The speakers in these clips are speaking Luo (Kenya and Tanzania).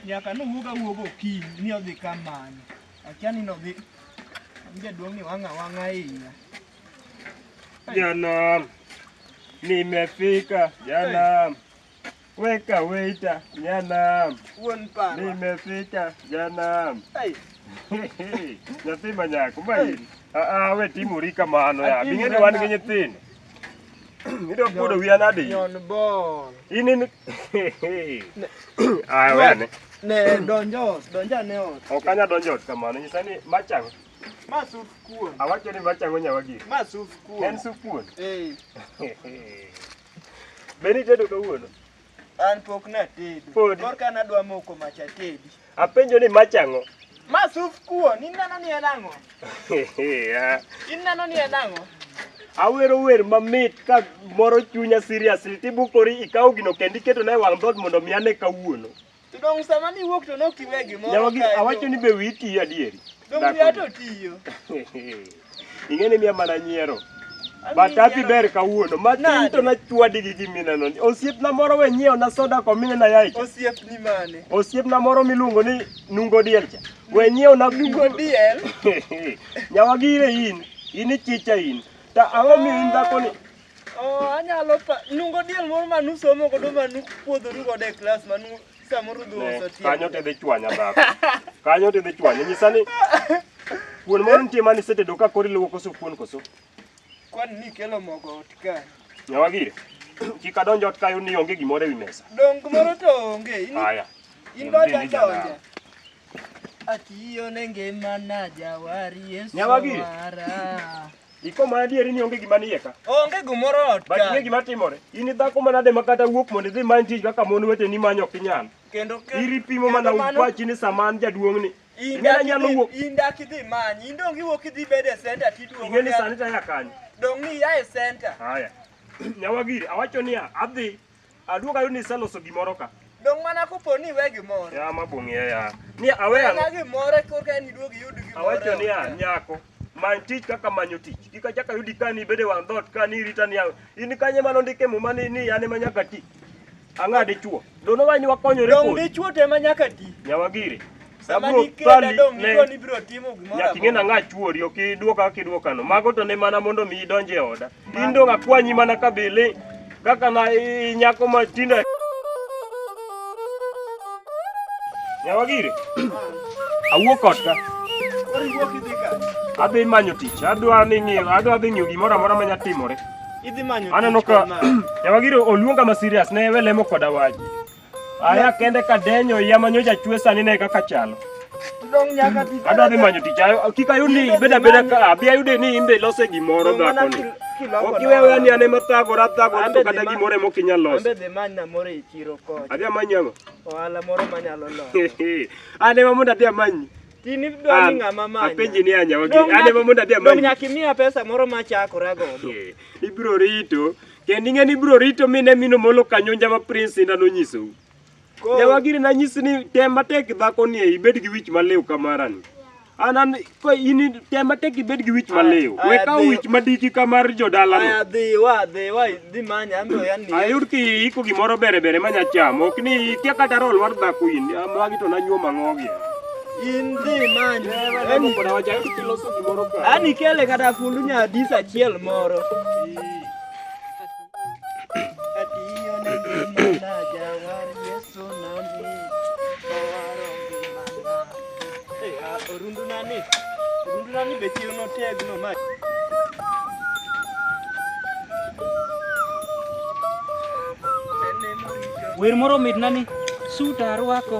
nyaka nowuog awuog okinyi ni odhi kamano akia ni nodhi jaduong' ni wang'a wang'a iya Janam, nimefika Janam. Weka waiter Janam, nimefika Janam. Nyathi manyako main. Aa, we timori kamano ya. Bing'eni wan gi nyithindo. Idwa buodo wiya nadi? Nyon bol. In in. Aa, wene. Ne donjo, donja ne ot. Ok anya donjo ot kamano. Nyisa ni machang. Ma sup kuon. Awacho ni machango nyawa gik. Ma sup kuon. En sup kuon. Eh. Be nitedo kawuono? An pok natedo. Podi. Korka nadwa moko mach atedi. Apenjo ni machango. Ma sup kuon. In neno ni en ang'o? Yeah. In neno ni en ang'o? Awero wer mamit ka moro chunya seriously tibukori ikawo gino kendo iketo na e wang' dhoot mondo mi ane kawuono. To dong sama niwuok to nok tiwe gimoro Nyawagi kae to- awacho ni be wiyi tiyo adieri. Dong Dhako wiya ni. to tiyo. Ing'eni miya mana nyiero. An But gi happy nyiero. ber kawuono. Matin Nade? to nachwadi gi gimineno. ni. Osiepna moro we nyiewo na soda komine na yaye. Osiepni mane? Osiepna moro miluongo ni Nungo Diel cha. We nyiewo na Nungo Diel? Nyawagire in. In ichicha in. Ta ang'o miyo in dhako ni? Oh, anyalo pa nungo diel moro ma nusomo godo ma nupuodhoru godo e klas ma nu samoro dhi uso Ne, tielo. kanyo tidhi chwanya dhako kanyo tidhi chwanya nyisa ni kuon moro nitie mane isetedo ka koro iluwo koso kuon koso Kwani nikelo mogo ot ka. nyawa gire kik adonj ot kayo ni onge gimoro ewi mesa Dongo moro to onge. In- haya In dwa donja. Atiyo ne ngima na jawari Yesu Nyawagi. mara. Iko ma adieri ni onge gima nie ka. Onge gimoro ot But ing'e ka. gima timore. In ni dhako manade ma kata wuok mondo idhi many tich kaka mon weteni manyo ok inyal. Kendo ke- Iri pimo kendo mana mano- upachi ni sama an jaduong' ni. In Ing'e dak nanyalo idhi- wuok. in dak idhi manyi. In dong iwuok idhi bedo e center tiduogo. Ing'e ni ka- sani taya kanyo. Dong ni ia e center. Haya. Nyawagiri awacho niya adhi Aduoga yoni iseloso gimoro ka. Dong mana kopo ni iwe gimoro. Ya ma bung'e ya. Ni awe ang'o? Ni gimoro korka ni duog yud gimoro. Awacho ni ya nyako. Many tich kaka manyo tich. Kika chaka yudi ka ni bede wang' dot ka ni rita ni in kanye mano ndike muma ni ni ane ma nyaka ti. Ang'ade chuo. Dono wani wakonyore kodi. Dong dichuo te ma nyaka ti. Nyawagire. Sama Abro nikenda thali dong' ne- iko ni biro timo gimoro Nyaka ing'e amora. nang'a chuori ok idwoka kaka idwokano. Mago to ne mana mondo mi idonj e oda. In dong' akwanyi mana ka bili kaka na i- i nyako ma tindo. Nyawa gire. Awuok ot ka. Koro iwuok idhi ka. Adhi manyo tich. Adwa ni ng'iyo, adwa dhi ng'iyo gimoro amora ma nyatimore. Idhi manyo Aneno tich ka kod mama. Nyawa gire oluonga ma serious ne we lemo koda wach. Aya kende ka denyo ya manyo ja chwe sani ne kaka chalo. Adwa dhi manyo tich ayo kik ayud ni beda beda ka abi ayude ni imbe lose gimoro dhako ni. Ok iwe we ni ane mathagora thagora to kata gimoro ema ok inyal loso. Ambe dhi many na moro e chiro kocha. Adhi amanyi ang'o? Ohala moro manyalo loso. Ane ma mondo adhi amanyi. Tini dwa ni ng'ama manyo. Apenji ni anyawa gi. Ane ma mondo adhi amanyi. Nyaka imiya pesa moro machakora godo. Ibiro rito. Kendo ing'e ni ibiro rito mi ne mino molo kanyonja ma Prince Inda nonyisou. Nyawagiri nanyisi ni tem matek dhako ni ibed gi wich maliw kamarani. An an ko in tem matek ibed gi wich maliw. Aya, We aya, kaw dhiyo. wich madiki kamar Aya jodalano. dhi wa dhi wa dhi manya amiyo yan ni. Ayud ki iko gimoro bere bere manya chamo. Ok ni ikia kata roll mar dhako in. Magi to nanyuo mang'ogi. In dhi manya. Ayud ki loso gimoro ka. Ani kele kata fundu nya dis achiel moro. Orundunani, orundunani bechiro notegno ma wer moro mit nani suta arwako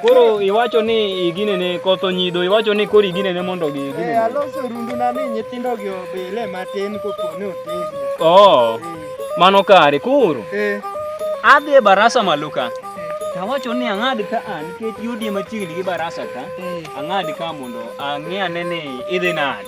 Koro iwacho ni igine ne kotho nyido, iwacho ni koro igine ne mondo gi igine. Eh, aloso rundu na ni nyithindo gi obile matin kopone otegno. Oh. Eh. Mano kare koro. Eh. Adhi e barasa malo ka. Eh. Tawacho ni ang'ad ka an ah, nikech yudi machiegni gi barasa ka. Eh. Ang'ad ka mondo ang'e ane ni idhi nade.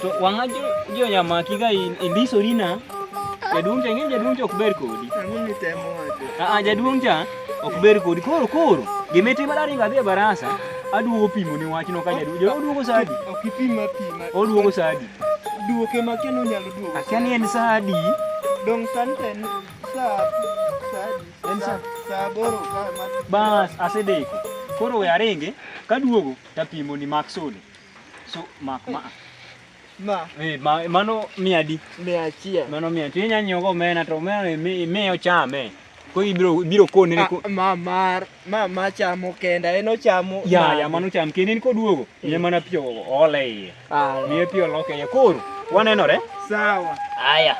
To wang'a jo nyamaki ka indisori na jaduong' cha ing'e jaduong' cha ok ber kodi. Aa jaduong' cha ok ber kodi koro koro gimitimo daringo adhi e barasa aduogo pimo ni wachno ka jaduong' jaduong' oduogo saa adi? Ok ipima pima. Oduogo saa adi? Duoke ma kien onyalo duogo. Akia ni en saa adi? Dong' sani to en saa saa adi? En saa saa aboro ka ma. Bas asedeko koro we aringi kaduogo tapimo ni mak sode. So mak ma. Ma. Eh, ma mano mia di. Mia achiel. Mano mia. Ti nya nyogo mena to mena mi mi ochame. Ko ibiro ibiro kone ne ko. Ma mar ma ma chamo kenda en ochamo. Ya ya mano cham kende ni koduogo. Eh. Ye mana pio ole iye. Ah. Mi pio loke ye koro. Wanenore. Sawa. Aya.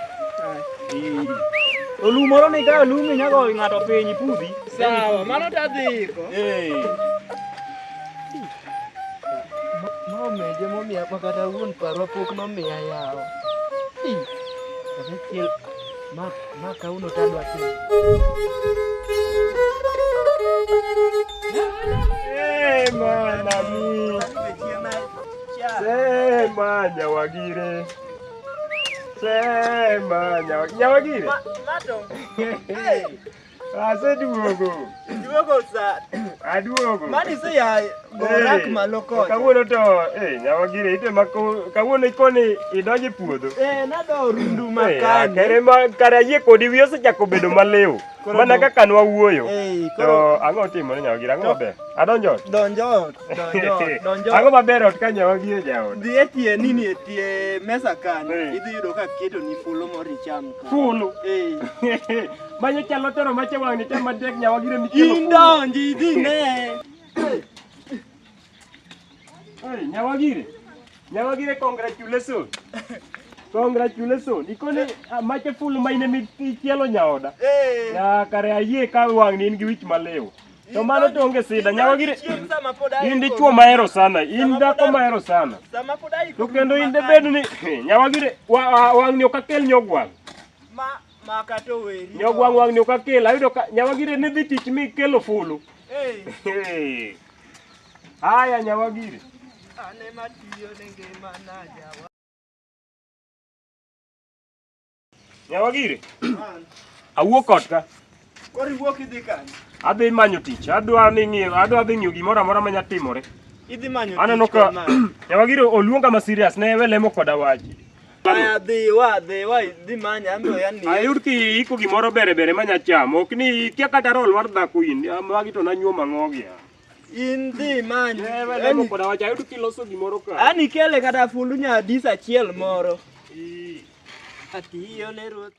Olumoro ni ka olumi nyago ng'ato piny pudhi. Sawa, mano tadhiko. Eh. Nomeje momiya ma kata wuon parwa pok nomiya yawo. Kata chiel ma ma kauno tadwa timo. Sema nami. Sema nyawagire. Sema nyawagire. Nyawagire. Aseduogo. Duogo sa. Aduogo. Mani se ya gorak malo kocha. Kawuono to eh nyawa gire ite ma kawuono ikoni idonjo e puodho. Eh nado rundu eh, makani. Kare ma kare ayie kodi wiyo osechako bedo maliw. Mana kaka nwa wuoyo. Eh, to ang'o timo ne nyawa gire ang'o maber? Adonjo. Donjo. Donjo. Donjo. Ang'o maber ot ka nyawa gire jaot. Dhi e tie nini e tie mesa kan. Eh. Idhi yudo ka keto ni fulu moro icham. Fulu. Eh. Manyo chalo tero mache wang'ni te matek nyawa gire ni kelo. Indonji idhi ne. Hey, nyawa gire. Nyawa gire congratulations. Congratulations. Ikone ah, mache full mine mi chielo nyaoda. Eh. Ya kare ayie ka wang'ni in gi wich malewo. To mano to onge sida nyawa gire. Chieng' sama pod aiko. In dichuo mahero sana, in dhako mahero sana. Sama pod aiko. To kendo in de bed ni nyawa gire wa- wa- wang'ni ok akel nyogwang'. Ma Maka to weri. Yo gwang wang nyoka kela ayudo ka nyawagire ne dhi tich mi kelo fulu. Eh. Haya nyawagire. Ane matiyo ne ngima na jawa. Nyawagire. Awuok kod ka. Koro iwuok idhi kanye? Adhi manyo tich. Adwa ni ng'iyo, adwa dhi ng'iyo gimoro amora ma nyalo timore. Idhi manyo tich. Aneno ka Nyawagiro oluonga ma serious ne we lemo koda waji. Aya dhi wa dhi wa dhi manya ambe ya ni. Ayud ki iko gimoro bere bere ma nya chamo. Ok ni kia kata rol war dhako in. Magi to nanyuo mang'ogi. In dhi manya. Ne we lemo koda waji. Ayud ki loso gimoro ka. Ani kele kata fundu nya dis achiel moro. Ati yo ne ruoth.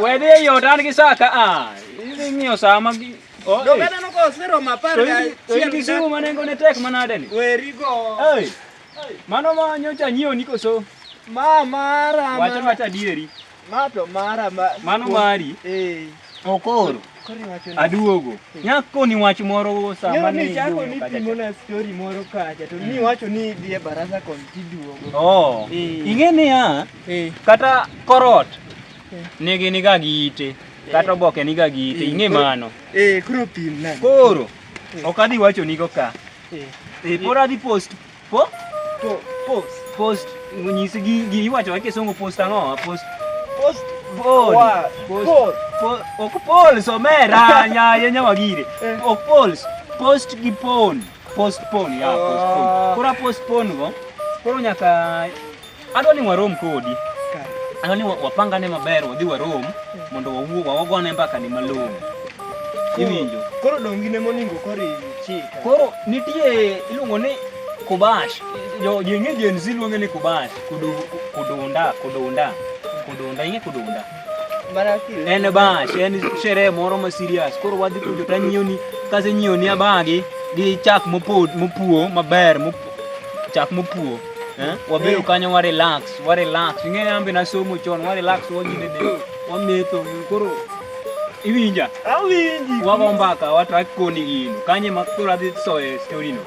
Wedhi e yot an gi saa ka a. Ah, idhi ng'iyo saa ma gi. Oh, to kata noko osero mapar ga chiel gi simu ma nengo ne tek manade ni. Weri go. Ei. Mano ma nyocha nyiewo ni koso. Ma mara ma. Wacha wacha dieri. Ma to mara ma. Mano mari. Eh. Okoro. Aduogo. Eh. Nyako ni wach moro sama ni. Ni chako ni pimo na story moro kacha to ni hmm. wacho ni idhi e barasa kon tiduogo. Oh. Eh. Ing'e ni ya. Eh. Kata korot eh. nigi niga gi ite eh. kata oboke niga gi ite ing'e mano. Eh, koro pim na. Koro ok adhi wacho nigo ka. Eh. Eh, pora adhi post. Po? Po post. Post nyisi gi gi iwacho wa kisungu post ang'o? Post. Post. Pol. Pol. Pol. Ok pol somera nya yenya wagire. Ok pol. Post gi pon. Postpone ya postpone. Ah. Kora postpone go. Koro nyaka Adwa ni warom kodi. Adwa ni wapangane maber wadhi warom mondo wawuo wawagone mbaka ni malong'o. Iwinjo? Koro dongi ne moningo koro chika. Koro nitie iluongo ni kubash. Jo jenge jenzi luonge ni kubash. Kudu kudunda kudunda. Kudunda inge kudunda. en bash en sherehe moro ma serious koro wadhi kujo to anyiewni kase nyiewni abagi gi chak mopod mopuo maber chak mopuo eh? wabedo eh. kanyo wa relax wa relax ing'eyo an be nasomo chon wa relax wanyine de wametho koro iwinja awinji wago mbaka watrak koni gino kanye ma koro adhi soye storino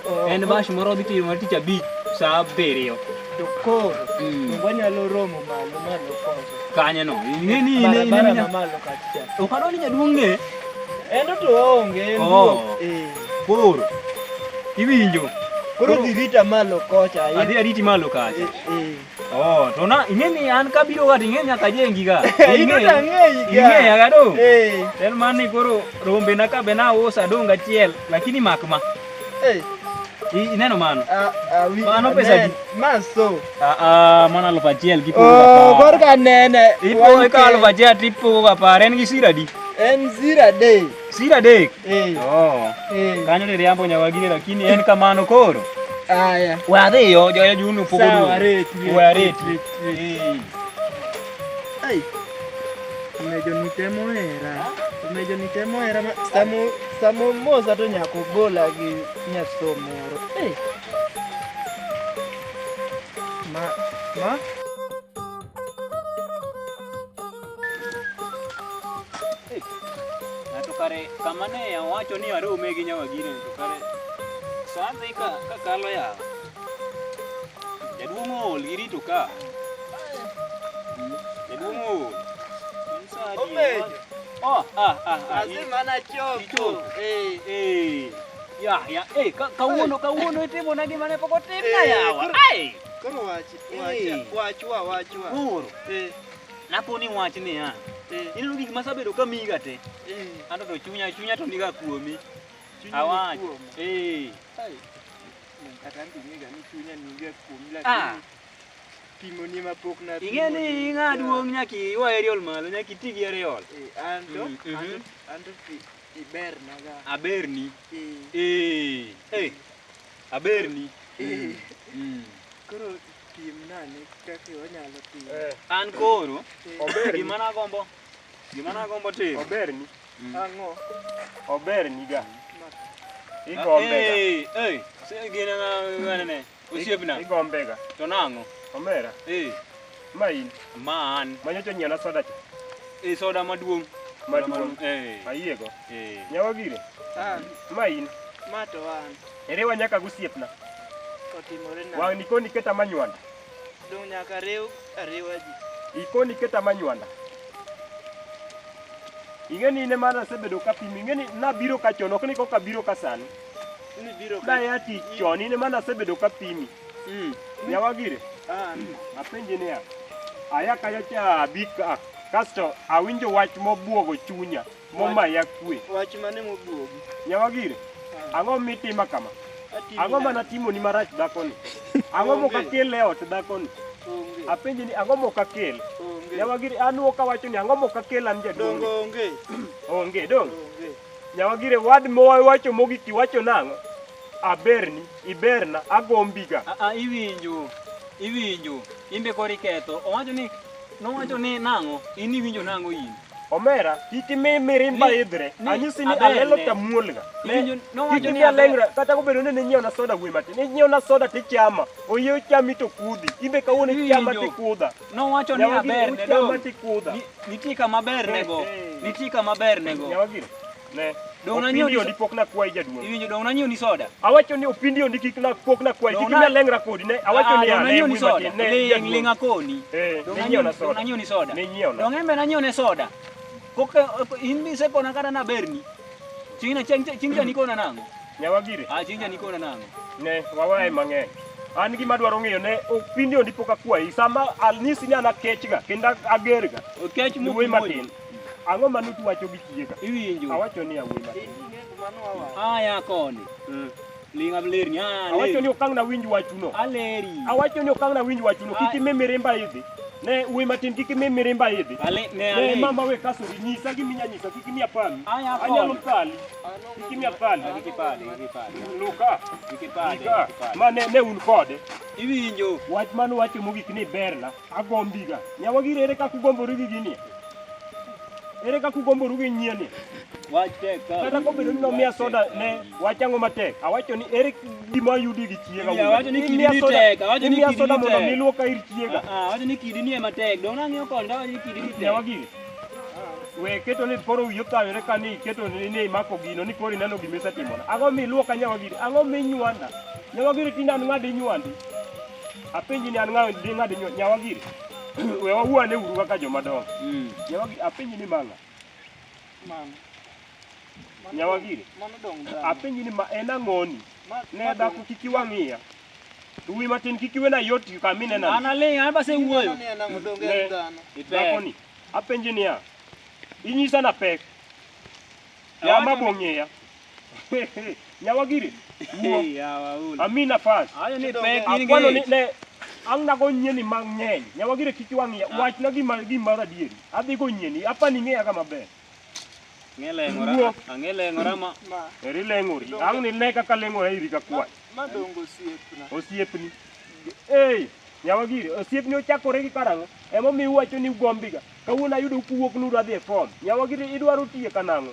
Oh. En bash moro dhi timo tich abich sa abiriyo. To koro mm. wanyalo romo malo malo koro. Kanye no. Ni ni ni ni ni malo kacha. Okado ni jaduong' ne. Endo to onge en duok. Oh. Eh. Koro. Iwinjo. Koro dhi rita malo kocha. Adhi ariti malo kacha. Eh. eh. Oh, tona ingeni an kabiro wat ingeni nyaka jengiga. Ino to ang'eyiga. Ing'eya ga do. Eh. En man ni koro rombe na kabe na usa dong achiel lakini mak ma. Eh. Ineno mano. Ah, ah, mano pesa di. Maso. Ah, ah, mano aluf achiel gi puro. Oh, kor ka nene. Ipo ka aluf achiel tipo ga par en gi sira di. En sira de. Sira dek. Eh. Oh. Eh. Kanyo ni riambo nyawagire lakini en kamano koro. Aya. Wadhi yo joyo junu pogo. Sawa reti. Wareti. Eh. Ai. Umejo nitemo era. Umejo nitemo era samo samo moza to nyako gola gi nyasomoro. Eh. Ma ma to kare kama ne owacho ni arome gi nyawagine to kare sande ka kakalo ya jaduong' ool girito ka jaduong' ool Oh, ah, ah, ah. Lazima na chopo. Eh, eh. Ya, ya. Eh, kawuono kawuono itimo nagi mane pok otim na yawa. Ai. Koro wachi, wachi, wachwa, wachwa. Koro. Eh. Naponi wach niya, eh. ineno gik masabedo ka miga te, eh. anto to chunya chunya to niga kuomi. Awach. Eh. Kata ndimiga ni chunya niga kuomi ah. lakini pimoni ma pok na pimo. Ing'e ni ing'a duong' nyaka iwa aerial malo, nyaka iti gi aerial. Eh, anto, mm, mhm. anto, anto ibernaga. Aberni. Eh. Eh. eh. Aberni. Eh. Mm. Koro piem nane kaka wanyalo piem. Eh. An koro eh. ober gima nagombo gima nagombo timo. Oberni. Mm. Ang'o? Oberni ga. Igombe ga. Eh, eh. Sasa gina na ngane ne. Usiepna. Igombe ga. To nango. Omera. Eh. Ma in. Ma an. Ma nyocha nyieo na soda cha. E eh, soda maduong'. Maduong'. Eh. Ayiego. Eh. Nyawa gire. Ah. Ma in. Ma to an. Ere wa nyaka gusiepna. Otimore na. Wang' nikoni keta manywanda. Dong' nyaka riw ariwa ji. Ikoni keta manywanda. Ing'eni ine mana asebedo ka pimi. Ing'eni nabiro ka chon, ok ni koka biro ka sani. Ni biro ka. Daya ti chon, ine mana asebedo ka pimi. Mm. Yawagire. Ah. Apenje niya. Aya kayo cha bika. Kasto awinjo wach mobuogo chunya momaya kwe. Wach mane mobuogo? Nyawagire. Ah. Ang'o mitima kama? Ang'o mana timo ni marach dakoni? Ang'o moka kel e ot dakoni? Apenje ni ang'o moka kel? Nyawagire an woka wacho ni ang'o moka kel an jaduong'. Dongo onge. Onge dong. Nyawagire wad mowacho mogik iwacho nang'o? Aberni. Iberna, agombiga. Ah, ah, iwinjo, iwinjo. Imbe koro iketho. Owacho ni, nowacho ni nang'o? In iwinjo nang'o in? Omera, kik imi mirimba idhre. Anyisi ni alelo tamuolga. Kik imi alengra, kata kobedo ni ninyiewna soda wuoyi matin. Inyiewna soda tichama, oyie ochami to kudhi. Imbe kawuono ichama tikudha. Nowacho ni aber ne dong. Nitie kama ber nego. Eh, eh. Nitie kama ber nego. Ne. Dongo nanyiew ni pok na kwayi jaduong'. Iwinjo dongo nanyiew ni soda. Awacho ni opindi ondi kik na pok na kwayi kik na lengra kodi ne. Awacho ni ane ni soda. Ne ling akoni. Eh, dongo nanyiew na soda. Dongo nanyiew ni soda. Ne nyiew na. Dongo embe nanyiew ne soda. Pok eh, eh, in bi se kona kata na berni. Chingna ching ching jani kona nango. Nyawagire. Ah, ching jani kona nango. Ne, wawae mang'eny. an gima dwaro ng'eyo ne opindi ondi pok akwayi sama anyisi ni an akechga kendo agerga okech muwe matin Ang'o ma nutu wacho gi chie ka? Iwinjo. Awacho ni awuoyi matin. Aya koni. Mm. Linga bler ni aya. Awacho ni okang' na winj wachuno. Aleri. Awacho ni okang' na winj wachuno. Kiki me mirimba hivi. Ne uwe matin kiki me mirimba hivi. Ale ne ale. Ne mama we kaso ni nyisa gi minya nyisa kiki mi apani. Aya koni. Anyalo pali. Kiki mi apani. Kiki pali, kiki pali. Luka. Kiki pali, kiki pali. Ma ne ne un kode. Iwinjo. Wach manu wacho mogik ni berna. agombiga nyawagire ere kaka ugomboru gi gini ere kaka ugomboru gi nyieni kata kobedo ni nomiya soda ne wachango matek awacho ni ere gima ayudi gi chiega imiya soda mondo mi luoka ir chiega nyawagire we keto ni koro wiyo thawore ka ni iketo ni ni imako gino ni koro ineno gima isetimona ang'o mi luoka nyawagire ang'o mi inywanda nyawagire tinde an ng'adi inywandi Apenji ni an ng'awe di ng'ad nyawa giri. We wawuane uru kaka joma dongo. Mm. Nyawa giri apenji ni manga. Mama. Nyawa giri. Mano dong dang. Apenji ni ma en ang'oni. Ne dhako kik iwang'iya. Duwi matin kik iwena yot kama inena. An aling' an base wuoyo. Ne, Dhako ni. Apenji niya. Inyisa na pek. Yama bong'eya. Nyawagiri. Amina fast. Ayo ni pek in Akwano ni gi. ne ang' nago nyieni mang'eny. Nyawagiri kik wang'iya. Wachna gima gima adieri. Adhi go nyieni. Apa ni ng'eya kama ber. Ang'e leng'ora. Wuok. Ang'e leng'ora ma. Ma, Eri leng'ori. Ang' ni ne kaka leng'ora iri ka kwach. ma dongo osiepna. Osiepni. Ei. Nyawagiri, osiepni ochakore gi karang'o? Emomiyo uwacho ni ugombiga. Kawuono ayudo kuwuok nudwa dhi e form. Nyawagiri idwaro tiye kanang'o?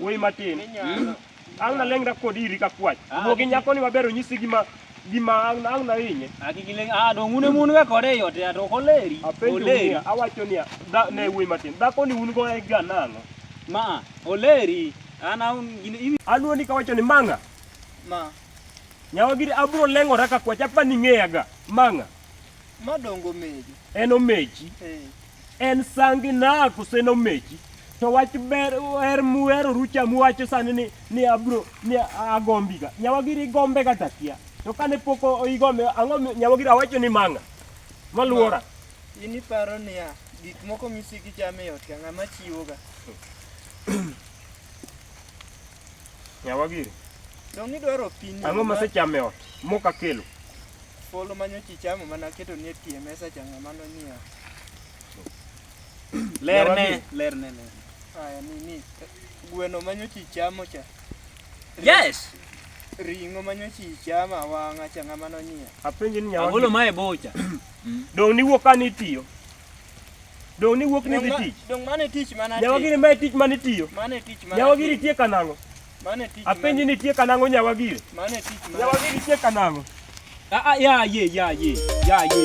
Wuoyi matin. Ang' naleng'ra kodi iri ka kwach. Wuo gi nyakoni maber onyisi gima gima ang' ang' nahinye. Akikileng ah dong un emun ga kode yote ya to koleri. Apenjo Oleri. niya, awacho niya, da- ne wuoyi matin. Dhako ni un go e ga nang'o? Ma oleri. An aun gin iwi Aluoni kawacho ni mang'a. ma Nyawa giri abro leng'ora ka kwach apa ni ng'eya ga. Mang'a. ma dongo mejo. En omechi. Eh. en sangi na kose nomechi to wach ber er muero rucha muwacho sani ni ni abro ni agombi ga nyawa giri gombe ga takia to kane poko igombe ango nyawa giri awacho ni manga maluora ini paro ni ya gik moko misiki chame yot ka ngama chiwo ga Nyawa giri. Donge idwaro pi ni? Ang'o masechamo e ot? Mok akelo. Folo manyocha ichamo mana aketo ni e pi e mesa cha ng'ama nonyiewo. Lerne, lerne, lerne. Aya nini? Gweno manyocha ichamo cha. Yes! Ring'o manyocha ichamo awang'a cha ng'ama nonyiewo. Apenji ni nyawa Agolo giri. ma e bocha. Dong' niwuok ka nitiyo. Dong' ni wuok ni dhi tich. Dong' mano e tich mana. Nyawa giri ma e tich mane itiyo. Mano e tich mana. Nyawa giri tie kanang'o. Mano e tich. Apenji ni tie kanang'o nyawa giri. Mano e tich mana. Nyawa giri tie kanang'o. Ah ah ya ye ya ye ya ye.